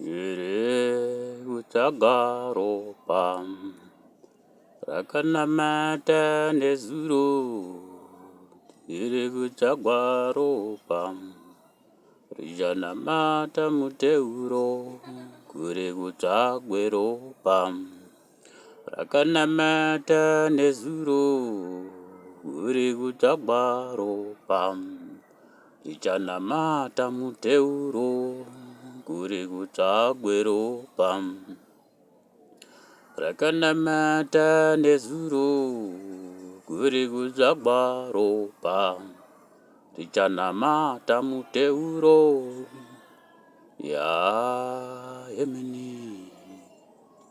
Here kutsvaga ropa rakanamata nezuro here kutsvagwa ropa richanamata muteuro kure kutsvagwe ropa. rakanamata nezuro uri kutsvagwa ropa tichanamata muteuro kuri kutsvagwe ropa rakanamata nezuro kuri kutsvagwa ropa tichanamata muteuro ya yeah, yemini yeah,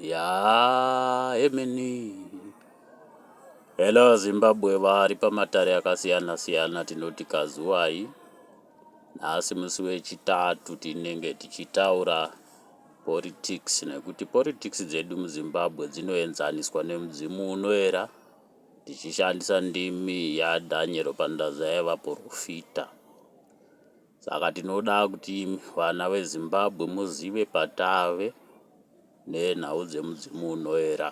Yaa emeni. Hello Zimbabwe vari pamatare akasiyana siyana tinoti kazuwai. Nhasi musi wechitatu tinenge tichitaura politics nekuti politics dzedu muZimbabwe dzinoenzaniswa nemudzimu unoera tichishandisa ndimi yaDhanyero Pandazaiva porofita. Saka tinoda kuti imi vana veZimbabwe muzive patave nenhau dzemudzimu unoera.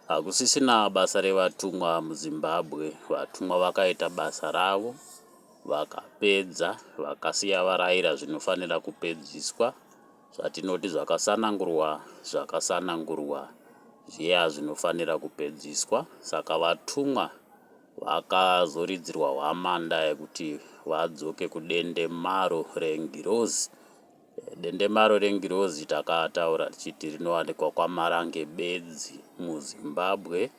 Hakusisina basa revatumwa muZimbabwe, vatumwa vakaita basa ravo vakapedza vakasiya varayira zvinofanira kupedziswa zvatinoti zvakasanangurwa zvakasanangurwa zviya zvinofanira kupedziswa saka vatumwa Vakazoridzirwa hwamanda yekuti vadzoke kudendemaro rengirozi. Dendemaro rengirozi takataura tichiti rinowanikwa kwaMarange bedzi muZimbabwe,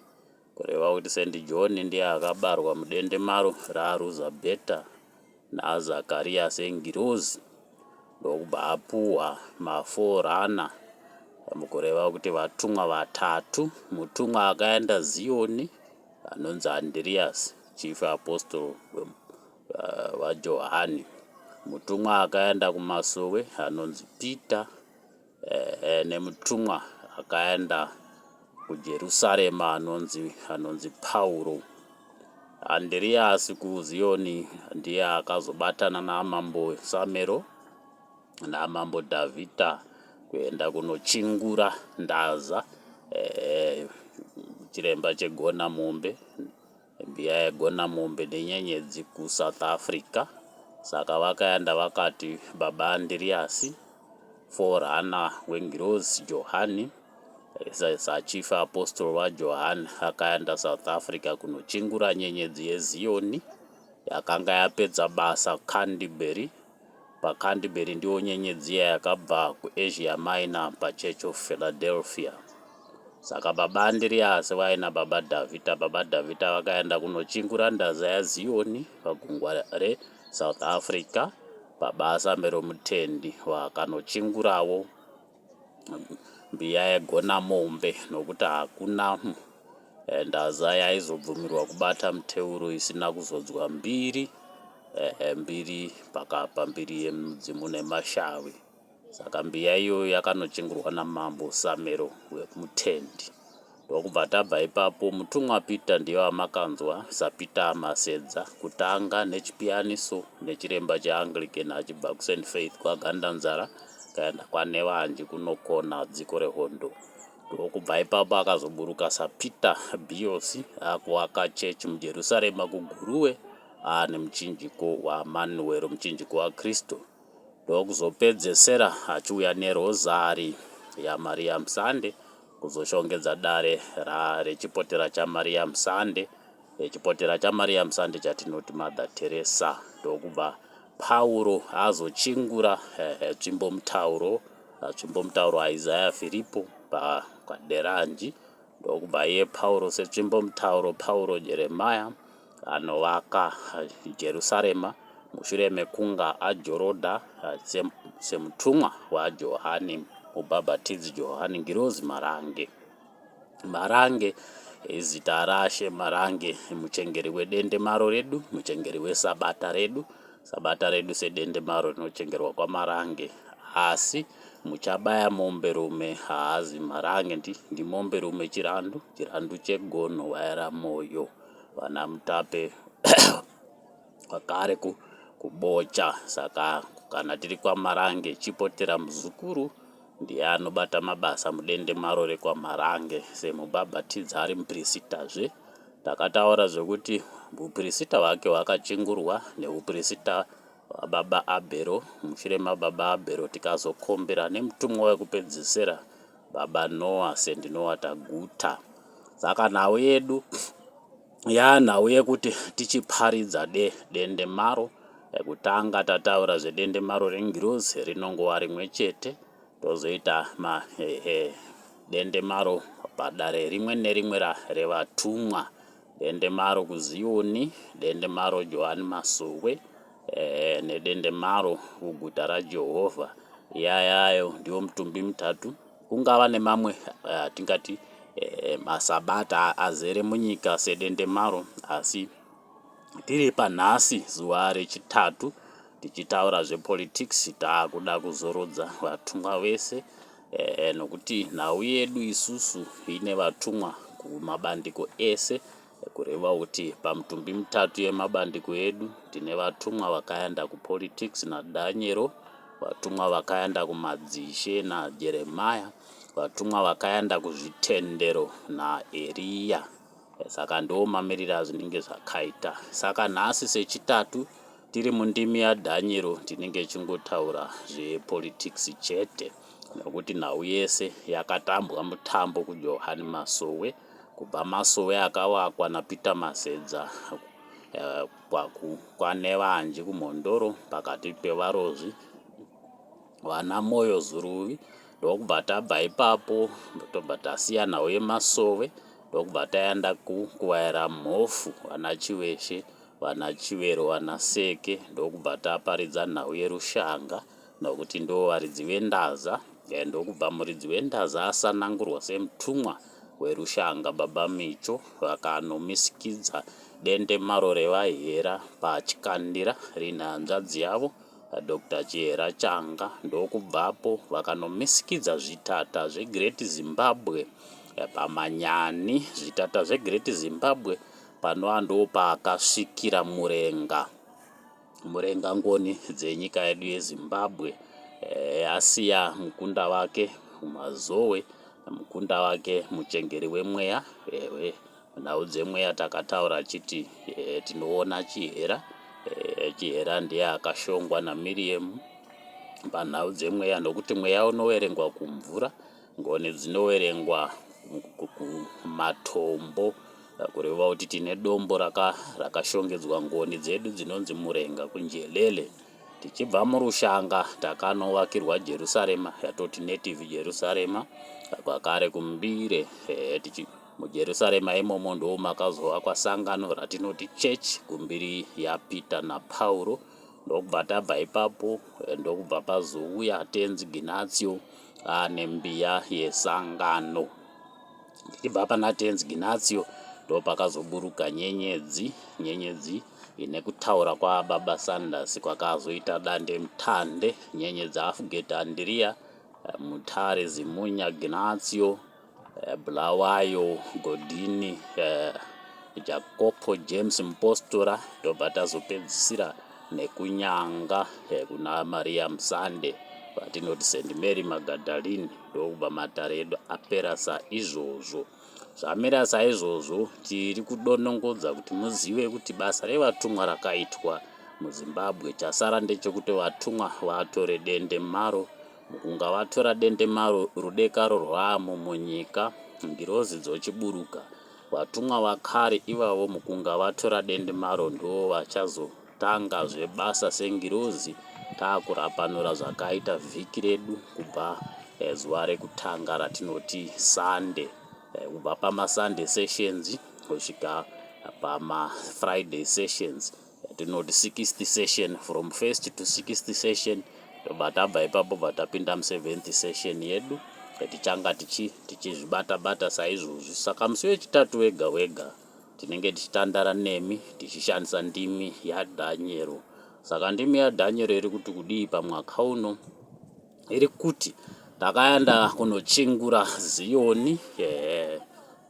kureva kuti Saint John ndiye akabarwa mudendemaro raRuzabheta naZakariya sengirozi ndokubva apuhwa maforana mukureva kuti vatumwa vatatu. Mutumwa akaenda Ziyoni, anonzi Andiriasi, chief apostle vaJohani, mutumwa akaenda kumasowe anonzi Pita, ehe, nemutumwa akaenda kuJerusarema anonzi anonzi Pauro. Andiriasi kuZiyoni ndiye akazobatana namambo Samero naMambo Davita kuenda kunochingura ndaza eh, chiremba chegona mombe mbiya yegona mombe nenyenyedzi kusouth africa saka vakaenda vakati baba andiriasi forana wengirozi johani sachief apostol wajohani akaenda south africa kunochingura nyenyedzi yeziyoni yakanga yapedza basa candibury paCanterbury ndiwo nyenyedzi iya yakabva kuAsia Minor paChurch of Philadelphia. Saka baba Andiriasi vaina baba Davita, baba Davita vakaenda kunochingura ndaza yaZioni pagungwa reSouth Africa, baba Asambero Mutendi vakanochingurawo. mbiya yaigona mombe nokuti hakuna eh, ndaza yaizobvumirwa kubata muteuro isina kuzodzwa mbiri eh, eh, mbiri pakapa mbiri yemudzimu nemashavi saka mbiya iyoyo yakanochingurwa namambo samero wekumutendi Ndokubva tabva ipapo mutumwa Peter ndiye wamakanzwa saPeter Masedza kutanga nechipiyaniso nechiremba cheAnglican achibva kuSaint Faith kwaGandanzara akaenda kwaNevanji kunokona dziko rehondo. Ndokubva ipapo akazoburuka saPeter Biyosi akuvaka chechi muJerusarema kuGuruwe aane muchinjiko waManuwero muchinjiko waKristu. ndokuzopedzesera achiuya nerozari yaMariam Sande kuzoshongedza dare ra rechipotera chaMariam Sande chipotera chaMariam Sande chatinoti Mother Teresa ndokubva Pauro azochingura eh, tsvimbo mutauro tsvimbo mutauro waIsaya Firipo paderanji ndokubva iye Pauro setsvimbo mutauro Pauro Jeremaya anovaka Jerusarema mushure mekunga ajorodha semutumwa waJohani Mubhabhatidzi Johani Ngirozi Marange. Marange izita raShe Marange, muchengeri wedendemaro redu, muchengeri wesabata redu, sabata redu sedendemaro rinochengerwa kwaMarange. Asi muchabaya mombe rume haazi Marange, ndimombe rume Chirandu, Chirandu chegono waera moyo. vana mutape vakare ku, kubocha saka kana tiri kwamarange chipotera muzukuru ndiye anobata mabasa mudende maro rekwamarange semubhabhatidza ari mupirisitazve takataura zvekuti upirisita hwake hwakachingurwa neupirisita hwababa abhero mushure mababa abhero tikazokombera nemutumwa wekupedzisira Baba Noah Saint Noah Taguta. Saka nhau yedu yaa nhau yekuti tichiparidza de dendemaro ekutanga tataura zvedendemaro rengirozi rinongova rimwe chete tozoita ma eh, eh, dendemaro padare rimwe nerimwe revatumwa dendemaro kuziyoni dendemaro johani masuwe eh, nedendemaro kuguta raJehovha. Yayayo ndiwo mutumbi mitatu. Kungava nemamwe eh, atingati eh, masabata azere munyika sedendemaro, asi tiri panhasi zuva rechitatu tichitaura zvepolitics taakuda kuzorodza vatumwa vese eh, nokuti nhau yedu isusu ine vatumwa kumabandiko ese Kureva kuti pamitumbi mitatu yemabandiko edu tine vatumwa vakaenda kupolitics naDanyero, vatumwa vakaenda kumadzishe naJeremiah, vatumwa vakaenda kuzvitendero naEria. Saka ndiwo mamiriro azvinenge zvakaita. Saka nhasi sechitatu tiri mundimi yaDhanyero tinenge chingotaura zvepolitics chete nekuti nhau yese yakatambwa mutambo kujohani masowe kubva masowe akavakwa naPeter Masedza kwaNevanji kuMhondoro pakati pevarozvi vana Moyo Zuruvi ndokubva tabva ipapo tobva tasiya nhau yemasowe ndokubva taenda kuvaera mhofu vana Chiveshe vana Chivero vana Seke ndokubva taparidza nhau yerushanga nokuti ndiwo varidzi vendaza eh, ndokubva muridzi wendaza asanangurwa semutumwa werushanga baba micho vakanomisikidza dendemaro revaihera pachikandira rine hanzvadzi yavo dr chihera changa ndokubvapo vakanomisikidza zvitata zvegreat zimbabwe eh, pamanyani zvitata zvegreat zimbabwe panoa ndopaakasvikira murenga Murenga Ngoni dzenyika yedu yeZimbabwe eh, asiya mukunda wake kumazowe mukunda wake muchengeri wemweya ewe nhau dzemweya takataura chiti eh, tinoona chihera eh, chihera ndiye akashongwa namiriyemu panhau dzemweya nokuti mweya unoverengwa kumvura Ngoni dzinoverengwa matombo kureva kuti tine dombo raka rakashongedzwa ngoni dzedu dzinonzi murenga kunjelele tichibva murushanga takanovakirwa jerusarema yatoti native jerusarema kwakare kumbire eh, tichi mujerusarema imomo ndoo makazovakwa sangano ratinoti church kumbiri yapeter napauro ndokubva tabva ipapo eh, ndokubva pazouya tenzi ginatio ah, nembiya yesangano tichibva pana tenzi ginatio ndopakazoburuka nyenyedzi nyenyedzi ine kutaura kwababa sanders kwakazoita dande mutande nyenyedzi afugeti andiriya eh, mutare zimunya ginatio eh, Bulawayo, Godini, eh, Jakopo James Mpostora tobva tazopedzisira nekunyanga eh, kuna Maria Musande vatinoti St Mary Magdalene ndokubva matare edu apera saizvozvo zvamira saizvozvo tiri kudonongodza kuti muzive kuti basa revatumwa rakaitwa muzimbabwe chasara ndechekuti vatumwa vatore dende maro Mukunga vatora dendemaro rudekaro rwamo munyika, ngirozi dzochiburuka. Vatumwa vakare ivavo mukunga vatora dendemaro ndivo vachazotanga zve basa sengirozi takurapanura zvakaita vhiki redu kubva eh, zuva rekutanga ratinoti Sunday eh, kubva pama Sunday sessions kusvika pama Friday sessions. tinoti 6th session from first to 6th session tobva tabva ipapo bva tapinda mu7th session yedu tichanga tichi tichizvibata bata saizvozvi saka musi wechitatu wega wega tinenge tichitandara nemi tichishandisa ndimi yadhanyero saka ndimi yadhanyero iri kuti kudii pamwaka uno iri kuti takaenda kunochingura ziyoni ehe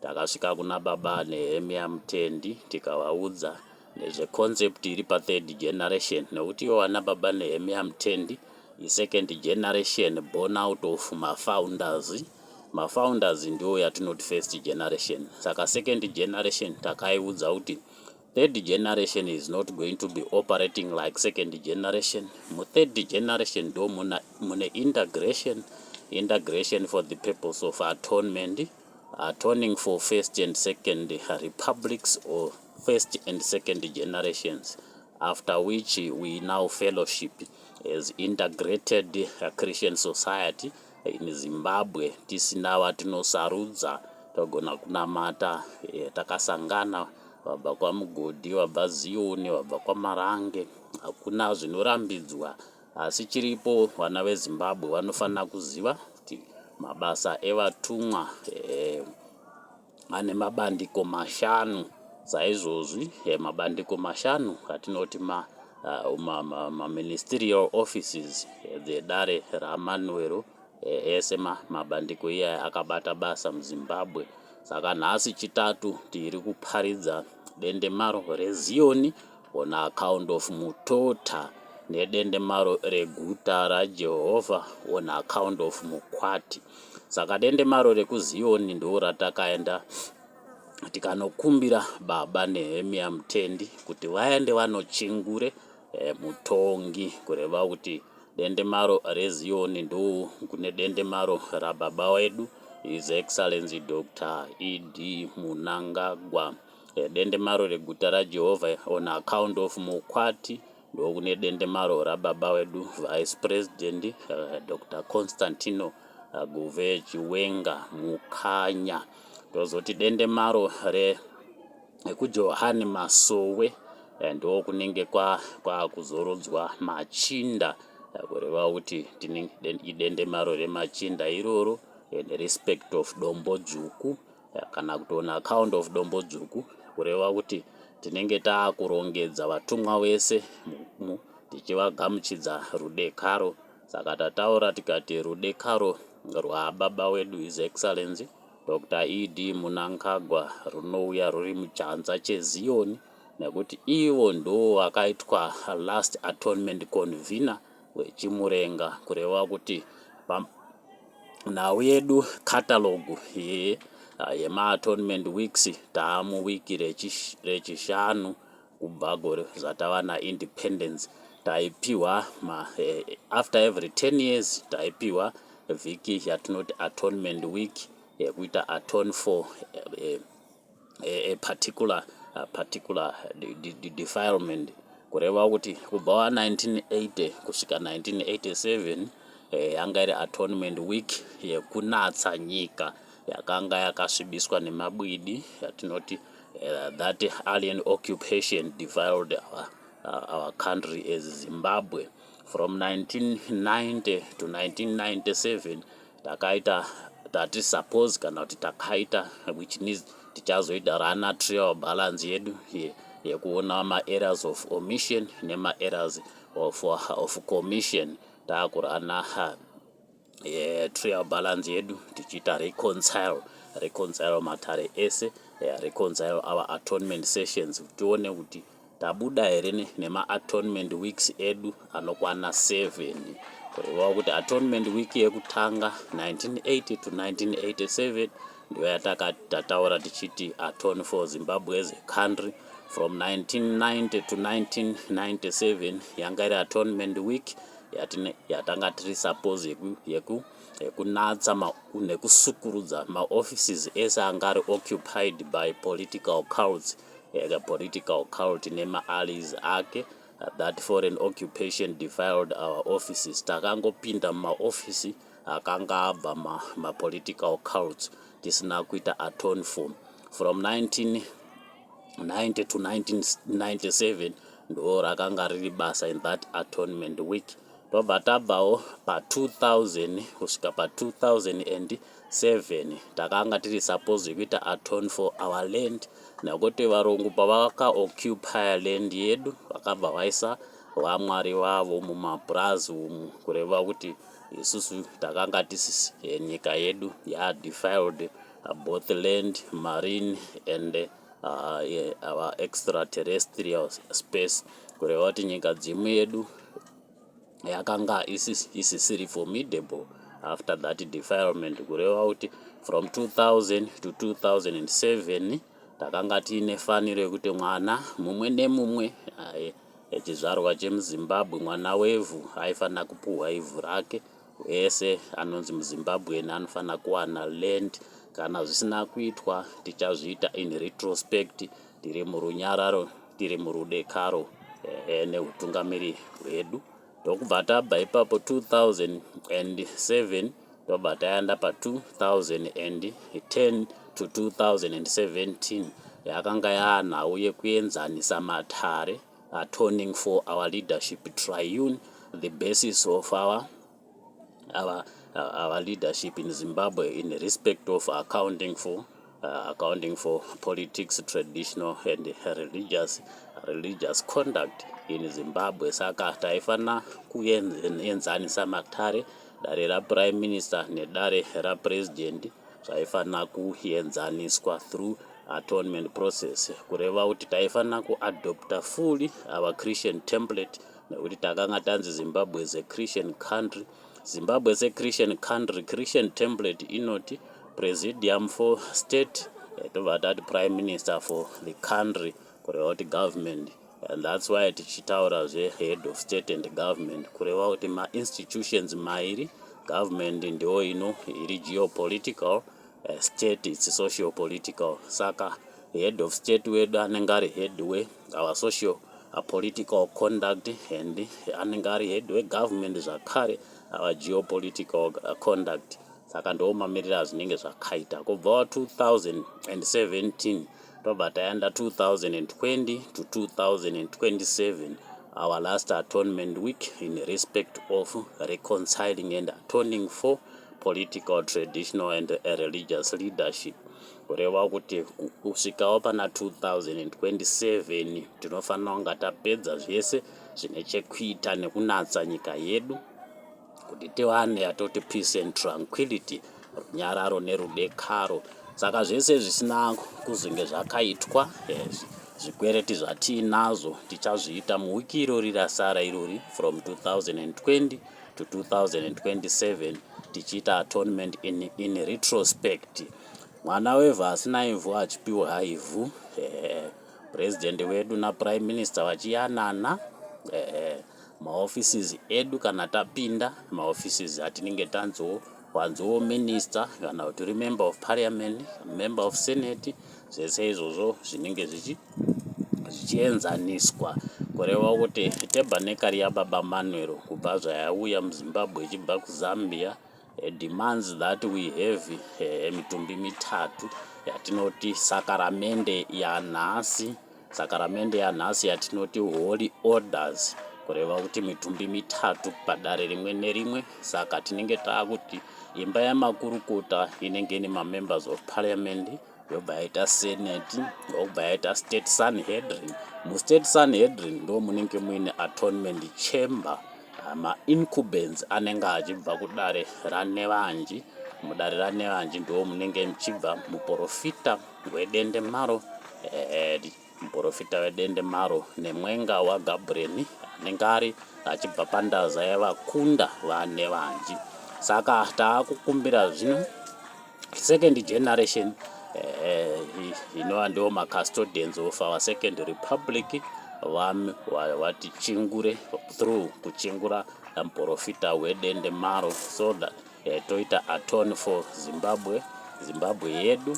takasvika kuna baba nehemia mutendi tikavaudza nezve concept iri pa third generation nekuti iwo ana baba Nehemia Mtendi i second generation born out of mafounders mafounders ndiwo yatinoti first generation saka second generation takaiudza kuti third generation is not going to be operating like second generation mu third generation ndo mune integration integration for the purpose of atonement Atoning for first and second republics or first and second generations after which we now fellowship as integrated Christian society in Zimbabwe tisina vatinosarudza togona kunamata eh, takasangana vabva kwamugodhi vabva ziyoni vabva kwamarange hakuna zvinorambidzwa Asi chiripo vana veZimbabwe vanofanira kuziva kuti mabasa evatumwa eh, ane mabandiko mashanu saizvozvi eh, mabandiko mashanu atinoti ma uh, ma, ma, ma ministerial offices eh, dzedare ramanwero eh, ese ma, mabandiko iyaya akabata basa muzimbabwe saka nhasi chitatu tiri kuparidza dendemaro reziyoni On account of Mutota nedendemaro reguta raJehovha, on account of Mukwati. Saka dendemaro rekuZiyoni ndoo ratakaenda tikanokumbira baba Nehemia Mutendi kuti vaende vanochingure e, eh, mutongi kureva kuti dendemaro reziyoni ndoo kune dendemaro rababa wedu his excellency dr ed munangagwa Dendemaro reguta raJehovha on account of Mukwati ndokune dendemaro rababa wedu Vice President uh, eh, Dr. Constantino eh, Guve Chiwenga Mukanya. Tozoti dendemaro re ekujohani masowe eh, ndo kunenge kwakuzorodzwa kwa machinda eh, kureva kuti idendemaro remachinda iroro in respect of dombo dzvuku kana kuti on account of Dombodzvuku kureva kuti tinenge taakurongedza vatumwa vese mugumo tichivagamuchidza rudekaro saka tataura tikati rudekaro rwababa wedu His Excellency Dr ED Munangagwa runouya ruri muchanza cheZiyoni nekuti ivo ndoo vakaitwa last atonement convener weChimurenga kureva kuti nhau yedu catalogue ye ah, yema atonement weeks taamu wiki rechish- rechishanu kubva gore zvatava na independence taipihwa ma eh, after every 10 years taipihwa vhiki yatinoti atonement week yekuita atone for eh, eh, a, a particular, a particular de, de, de, defilement kureva kuti kubva wa 1980 kusvika 1987 eh, yanga iri atonement week yekunatsa nyika yakanga yakasvibiswa nemabwidi yatinoti uh, that alien occupation defiled our, uh, our country as zimbabwe from 1990 to 1997 takaita tati suppose kana kuti takaita which means tichazoita rana trial balance yedu yekuona maareas of omission nemaareas of, of commission taakurana yeah, trial balance yedu tichiita reconcile reconcile matare ese yeah, reconcile our atonement sessions tione kuti Tabuda here nema atonement weeks edu anokwana 7. Kureva kuti atonement week yekutanga 1980 to 1987 ndiyo yatakati tataura tichiti atone for Zimbabwe as a country from 1990 to 1997 yanga iri atonement week yatanga tiri suppose yeku, yeku yekunatsa nekusukurudza maoffices ese anga ari occupied by political cults a political cult nema allies ake that foreign occupation defiled our offices takangopinda mumaofisi akanga abva ma, ma political cults tisina kuita atone for from 19 90 to 1997 ndo rakanga riri basa in that atonement week tobva tabvawo pa2000 kusvika pa2000 and 7 takanga tiri supposed kuita atone for our land nekuti varungu pavakaoccupy land yedu vakabva vaisa vamwari vavo mumapurazi umu kureva kuti isusu takanga tisisi eh, nyika yedu yadefiled uh, both land marine and uh, our extraterrestrial space kureva kuti nyika dzimu yedu yakanga isisiri formidable after that defilement kureva kuti from 2000 to 2007 takanga tiine faniro yekuti mwana mumwe nemumwe echizvarwa chemuzimbabwe mwana wevhu aifanira kupuhwa ivhu rake wese anonzi muzimbabwean anofanira kuwana land kana zvisina kuitwa tichazviita in retrospect Tiri murunyararo, tiri murudekaro ehe nehutungamiri hwedu ndokubva tabva ipapo 2007 tobva taenda pa2010 to 2017 yakanga yaanhau yekuenzanisa matare atoning for our leadership triune the basis of our our, uh, our leadership in Zimbabwe in respect of accounting for uh, accounting for politics traditional and religious religious conduct in Zimbabwe saka taifanira kuenzanisa matare dare raprime minister nedare rapresident zvaifanira kuenzaniswa through atonement process kureva kuti taifanira kuadopta fully our christian template nekuti takanga tanzi zimbabwe is a christian country zimbabwe is a christian country christian template inoti presidium for state eh, tobva tati prime minister for the country kureva kuti government and that's why tichitaura zvehead of state and government kureva kuti mainstitutions mairi government ndiyo ino iri geopolitical eh, state its social political saka head of state wedu anenge ari head we our social uh, political conduct and anenge ari head wegovernment zvakare our geopolitical uh, conduct saka ndiwo mamiriro azvinenge zvakaita kubva 2017 tobva taenda 2020 to 2027 our last atonement week in respect of reconciling and atoning for political traditional and religious leadership kureva kuti kusvikawo pana 2027 tinofanira kunga tapedza zvese zvine chekuita nekunatsa nyika yedu kuti tiwane yatoti peace and tranquility runyararo nerudekaro saka zvese zvisina kuzenge zvakaitwa yes. zvikwereti zvatiinazvo tichazviita muwiki irori rasara irori from 2020 to 2027 tichiita atonement in, in retrospect Mwana wevhu asina ivhu achipiwa ivhu ehe president wedu na prime minister vachiyanana ehe maoffices edu kana tapinda maoffices atinenge tanzoo wanzoo minister kana kuti uri member of parliament member of senate zvese izvozvo zvinenge zvichi zvichienzaniswa kureva kuti tabernacle yababa manuel kubva zvayauya muzimbabwe ichibva kuzambia demands that we have eh, mitumbi mitatu yatinoti sakaramende yanhasi sakaramende yanhasi yatinoti holy orders kureva kuti mitumbi mitatu padare rimwe nerimwe saka tinenge taakuti imba yamakurukota inenge ine mamembers of parliament yobva yaita senate yobva yaita state sanhedrin mustate sanhedrin ndo munenge muine atonement chamber ah, maincubens anenge achibva kudare ranevanji mudare ranevanji ndo munenge muchibva muprofita wedende maro eh, Muporofita wedendemaro nemwenga waGabhureni anenge ari achibva pandaza yevakunda vane vanji. Saka taakukumbira zvino second generation eh, inova ndiwo macustodians of our second republic vami vati chingure through kuchingura muporofita wedende maro so that eh, toita atone for zimbabwe zimbabwe yedu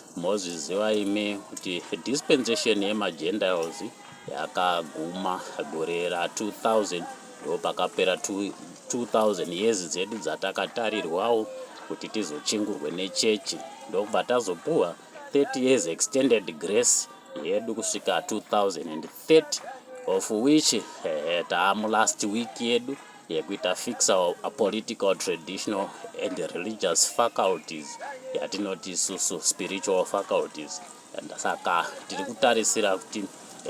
Mozviziva imi kuti dispensation yemaGentiles yakaguma gore ra 2000 ndopakapera 2000 years dzedu dzatakatarirwawo kuti tizochingurwe nechechi ndokubva tazopuwa 30 years extended grace yedu kusvika 2030 of which eh, taamu last week yedu yekuita fixa a political traditional and religious faculties yatinoti isusu spiritual faculties and saka tiri kutarisira kuti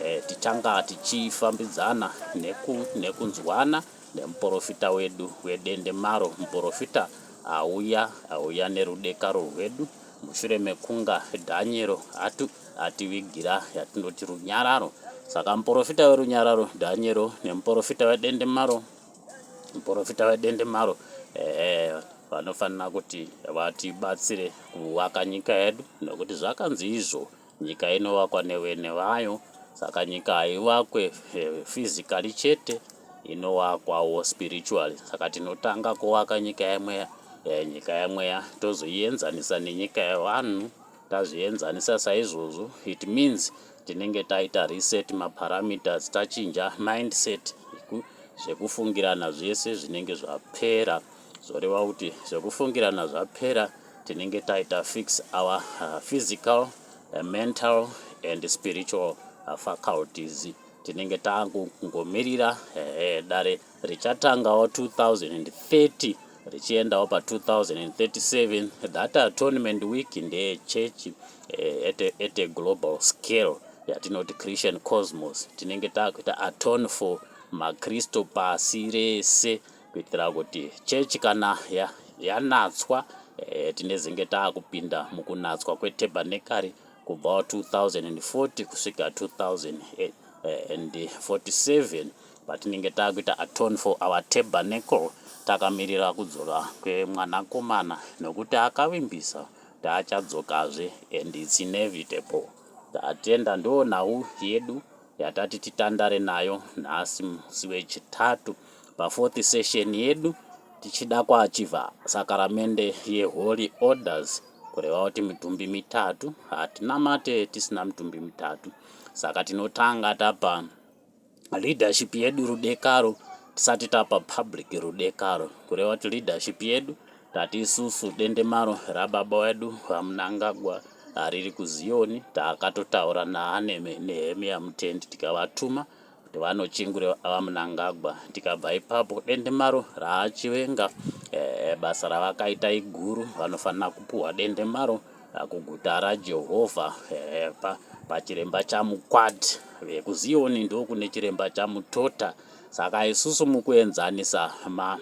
eh, tichanga tichifambidzana neku, nekunzwana nemuporofita wedu wedende maro muporofita auya auya nerudekaro rwedu mushure mekunga Dhanyero atu, ativigira yatinoti runyararo. Saka muporofita werunyararo Dhanyero nemuporofita wedendemaro, muporofita wedendemaro ehe, vanofanira kuti vatibatsire kuvaka nyika yedu, nokuti zvakanzi izvo Nyika inovakwa nevene vayo saka nyika haivakwe physically chete inovakwawo spiritually saka tinotanga kuvaka nyika yemweya eh, nyika yemweya tozoienzanisa nenyika yevanhu tazvienzanisa saizvozvo it means tinenge taita reset maparameters tachinja mindset zvekufungirana zvese zvinenge zvapera zvoreva kuti zvekufungirana zvapera tinenge taita fix our uh, physical uh, mental and spiritual uh, faculties tinenge tangomirira uh, dare richatangawo 2030 richiendawo pa 2037 that atonement week ndeye chechi uh, at, at a global scale yatinoti christian cosmos tinenge takuita atone for makristu pasi rese kuitira kuti chechi kana yanatswa eh, tinezenge taakupinda mukunatswa kwetabernekari kubva 2040 kusvika 2047 patinenge taakuita atone for our tabernacle takamirira kudzoka kwemwanakomana nokuti akavimbisa taachadzokazve and its inevitable tatenda ndoo nhau yedu yatati titandare nayo nhasi musi wechitatu pafourth session yedu tichida kuachiva sakaramende yeholy orders kureva kuti mitumbi mitatu hatinamate tisina mitumbi mitatu saka tinotanga tapa leadership yedu rudekaro tisati tapa public rudekaro kureva kuti leadership yedu Tati isusu dendemaro rababa wedu VaMnangagwa riri kuZiyoni, takatotaura naAneme Nehemiya Mutendi tikavatuma kuti vanochingure VaMnangagwa. Tikabva ipapo dendemaro raachivenga eh, basa ravakaita iguru, vanofanira kupuhwa dendemaro eh, kuguta raJehovha eh, pa, pachiremba chamukwati vekuZiyoni ndokune chiremba chamutota. Saka isusu mukuenzanisa ma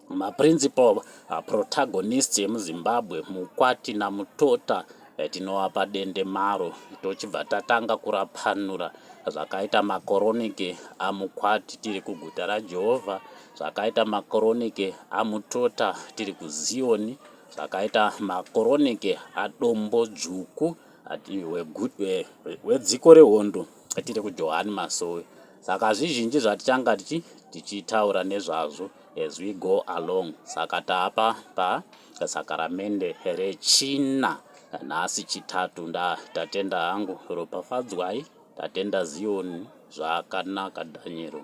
maprincipal protagonists emuzimbabwe mukwati namutota eh, tinovapa dendemaro tochibva tatanga kurapanura zvakaita makoroniki amukwati tiri kuguta rajehovha zvakaita makoroniki amutota tiri kuziyoni zvakaita makoroniki adombo dzvuku ati wedziko rehondo tiri kujohani masowe saka zvizhinji zvatitanga tichi tichitaura nezvazvo as we go along saka taapa pa sakaramende rechina nhasi chitatu nda tatenda hangu ropafadzwai tatenda ziyoni zvakanaka dhanyero